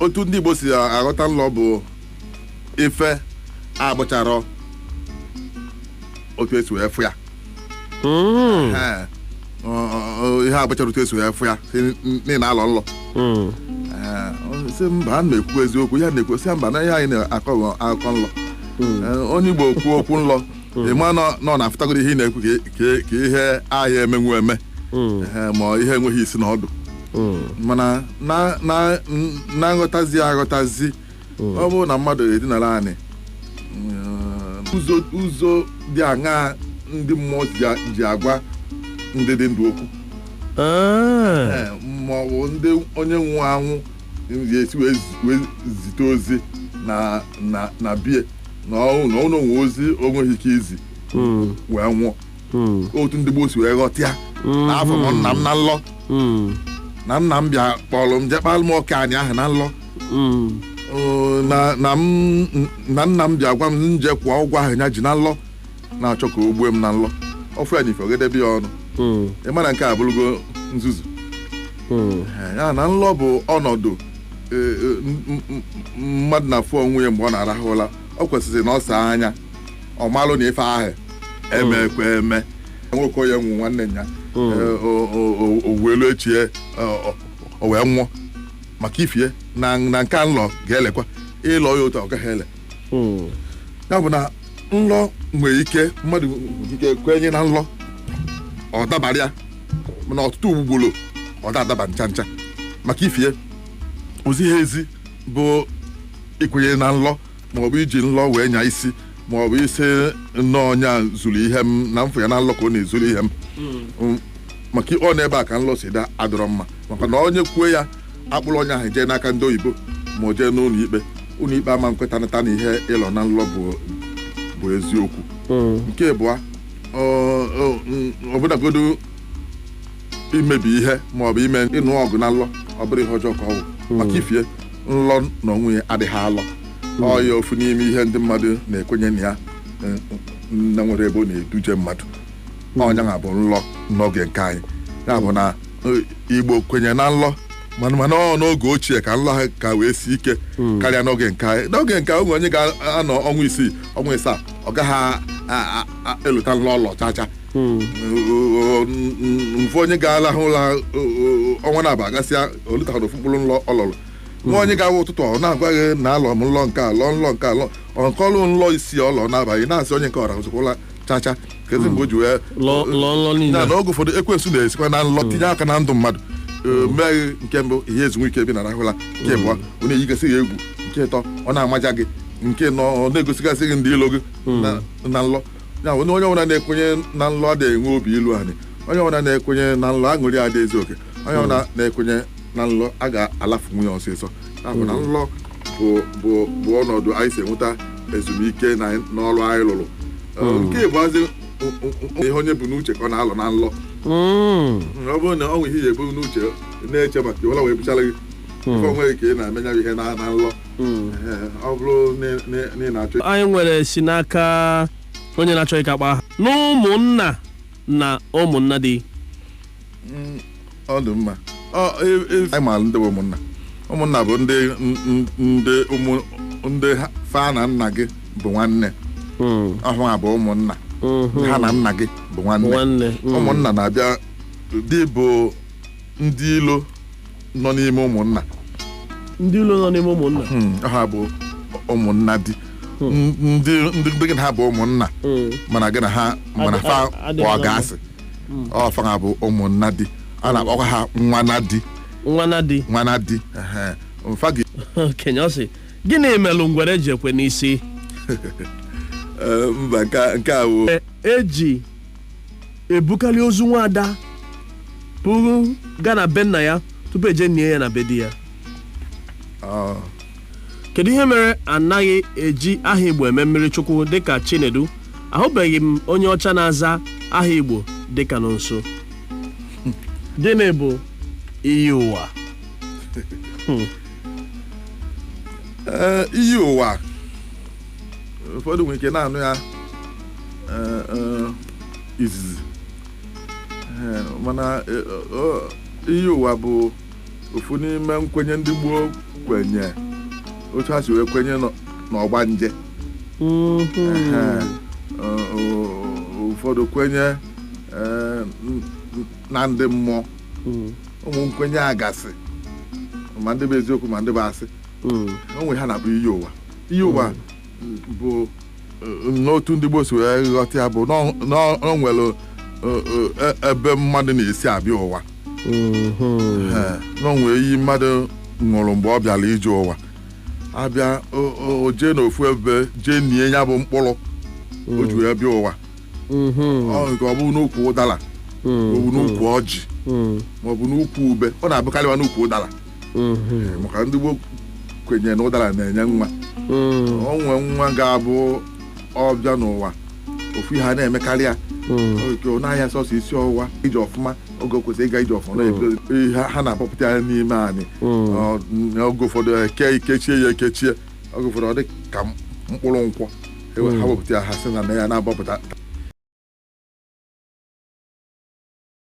otu ndị igbo si aghọta nlọ bụ ife abụcharọ otu esi wee fụ ya Mm, Ee, ọ- ọ- ọ- ihe abụcharọ otu esi wee fụ ya sị na ị na-alọ nlọ mm. Ee, ọ sị mba a na-ekwu eziokwu ya na-ekwu sị mba na ihe anyị na-akọ bụ akụkọ nlọ Ee, onye igbo kwuo okwu nlọ ị ma na ọ- na ọ na-afụtagoro ihe ị na-ekwu ka e- ka e- ka ihe aha emenwu eme Ehe, ma ihe enweghị isi na ọdụ mana na- na- n- na nghọtazi aghọtazi ọ bụrụ na mmadụ edinara anị mm, ụzọ ụzọ dị aṅaa ndị mmụọ ji a- ji agwa ndị dị ndụ okwu Ah, Ee, ma ọ bụ ndị onye nwụrụ anwụ ga-esi wee zi- wee zite ozi na na na bie na ọnwụ na ọnwụ o nwe ozi o nweghị ike izi Mm, wee nwụọ mm, otu ndị gboo si wee ghọtịa na afụ m nna m na nlọ mm, na nna m bịa kpọrọ m je kpalụ m oke anị ahụ na nlọ mm, Oo, na na m na nna m bịa gwa m m je kwụọ ụgwọ ahụ ya ji na nlọ na-achọ ka o gbue m na nlọ ọ fụ ya n'ife o gedebe ya ọnụ mm, ị mara nke a bụrụgo nzuzu mm, Ee, ya na nlọ bụ ọnọdụ e, e, m- m- m- mmadụ na-afụ onwe ya mgbe ọ na-arahụ ụra ọ kwesịrị na ọ saa anya ọ malụ na ife ahụ emekwa eme nwoke onye nwụ nwanne ya Mm. Ee, o- o- o- o wee luo echi ya, ọ- ọ- o wee nwụọ maka ifie na na nke a nlọ ga-elekwa ị lọọ ya otu a, ọ gaghị ele ya bụ na nlọ nwere ike mmadụ nwere ike kwenye na nlọ ọ dabara ya mana ọtụtụ ugboro ọ da-adaba ncha ncha maka ifie o ziha ezi bụ ikwenye na nlọ maọbụ iji nlọ wee nya isi maọbụ ịsị na ọ onye a zuru ihe m na m fụ ya na nlọ ka ọ na-ezuru ihe m Mm, maka ọ n'ebe a ka nlọ si da adịrọ mma maka na onye kwuo ya a kpụrụ onye ahụ jee n'aka ndị oyibo ma o jee n'ụlọ ikpe ụlọ ikpe ama nkwetanata na ihe ị lọ na nlọ bụ bụ eziokwu nke abụọ ọ- ọ- n- ọbụnagodu imebi ihe ma ọ bụ ime ịnụ ọgụ na nlọ ọ bụrụ ihe ọjọọ ka ọ bụ maka ifie nlọ na onwe ya adịghị alọ ọ ya ofu n'ime ihe ndị mmadụ na-ekwenye na ya eh, na nwere ebe ọ na-eduje mmadụ ọ nya na-abụ nlọ n'oge nke anyị ya bụ na eh, igbo kwenye na nlọ mana mana ọ n'oge ochie ka nlọ ha ka wee si ike karịa n'oge nke anyị n'oge nke o nwe onye ga-anọ ọnwa isii ọnwa ịsaa ọ gaghị a- a- a- elota nlọ ọ lọ chacha nwee onye ga-alahụ ụla ọnwa naabọ agasịa o lotahụ ofu mkpụrụ nlọ ọ lọlụ nwee onye kwa ụtụtụ ọ na-agwa gị na alọ m nlọ nke a lọ nlọ nke a lọ ọ kọlụ nlọ isii ọ lọ n'abalị na-asị onye nke ọra ụzụkwụla chacha kezi mgbe o ji wee Lọ- lọ nlọ niile. na na oge ụfọdụ ekwensu na-esikwa na nlọ tinye aka na ndụ mmadụ Ee, mee gị nke mbụ ihe ezu ike ebe ị na-arahụ ụla nke abụọ ọ na-eyigasị gị egwu nke ịtọ ọ na-amaja gị nke ịnọ ọ na-egosigasị gị ndị ilo gị na- na nlọ ya bụ na onye ọbụla na-ekwenye na nlọ adịghị enwe obi ilu anị onye ọbụla na-ekwenye na nlọ aṅụrị adị ezu oke onye ọbụla na-ekwenye na nlọ a ga-alafunwu ya ọsịsọ ya bụ na nlọ bụ ọnọdụ anyị si enweta ezumike n'ọrụ anyị lụrụ hmm. nke ịbụazị ihe onye bu n'uche ka ọ na-alọ na nlọ hmm. Hmm, ọ bụrụ na ọ nwe ihe ya ebu n'uche na-eche maka iwela wee bụchara gị ị fụ onwe gị ka ị na-eme nya ihe na nlọ ọ bụrụ na ị na-achọ anyị nwere si n'aka onye na-achọ ịka kpa aha n'ụmụnna na ụmụnna di Mm, ọ dị mma Ọ, e- e- anyị maara ndị bụ ụmụnna ụmụnna bụ ndị n- n- ndị ụmụ ndị ha- fa na nna gị bụ nwanne Mm, ọ ha bụ ụmụnna mhm. ha na nna gị bụ nwanne nwanne mm. ụmụnna na-abịa dị bụ ndị ilo nọ n'ime ụmụnna ndị ilo nọ n'ime ụmụnna Hmm, ha bụ ụmụnna di ndị ndị ndị gị na ha bụ ụmụnna Mm. mana gị na ha mana Adị- fa adị- adị kpọọ mma. gị asị ọ fanwa bụ ụmụnna di a na-akpọkwa ha nwa nna di nwa nna di nwa nna di ehe. Mfa gị okenye ọ sị gịnị melụ ngwere ji ekwe n'isi Eh, mba nke a- nke a bụ E- eji ebukarị ozu nwaada buru gaa na be nna ya tupu e jee nie ya na be di ya Ọ, kedu ihe mere anaghị eji aha igbo eme mmiri chukwu dịka chinedu ahụbeghị m onye ọcha na-aza aha igbo dịka Nọnso gịnị bụ iyi ụwa Ee, iyi ụwa ụfọdụ nwere ike na-anụ ya ee, ee, izizi Ee, mana ee, ọ- iyi ụwa bụ ofu n'ime nkwenye ndị gboo kwenye otu ha si wee kwenye nọ- n'ọgbanje Ehe. Ọ- ọ- ụfọdụ kwenye eh, n- n- na ndị mmụọ ụmụ nkwenye a gasị ma ndị bụ eziokwu ma ndị bụ asị o nwere ihe a na-akpọ iyi ụwa iyi ụwa bụ eh, n'otu ndị Igbo si wee ghọta ya bụ na ọ- na ọ nwere eh, eh, e- ebe mmadụ na-esi abịa ụwa Mhm. Eh, na o nwere iyi mmadụ ṅụrụ mgbe ọ bịara ije ụwa abịa o- o- o jee n'ofu ebe jee nie ya bụ mkpụrụ o ji wee bịa ụwa Mhm. ọ nke ọ bụ n'ukwu ụdara Mhm. maọbụ n'ukwu ọjị Mhm. maọbụ n'ukwu ube ọ na-abụkarịwa n'ukwu ụdara mm-hmm. maka ndị gboo kwenyere na ụdara na-enye nwa mm. o nwee nwa ga-abụ ọbịa n'ụwa ofu ihe a na-emekarị ya mm. n'ahịa sọsọ isi ọwụwa ije ọfụma oge kwesịrị ịga ije ọfụma mm. ha na-akpọpụta ya n'ime anyị oge ụfọdụ eke e kechie ya ekechie oge ụfọdụ ọ dị ka mkpụrụ nkwụ e ha wepụta ya ha sị na ya na-agbapụta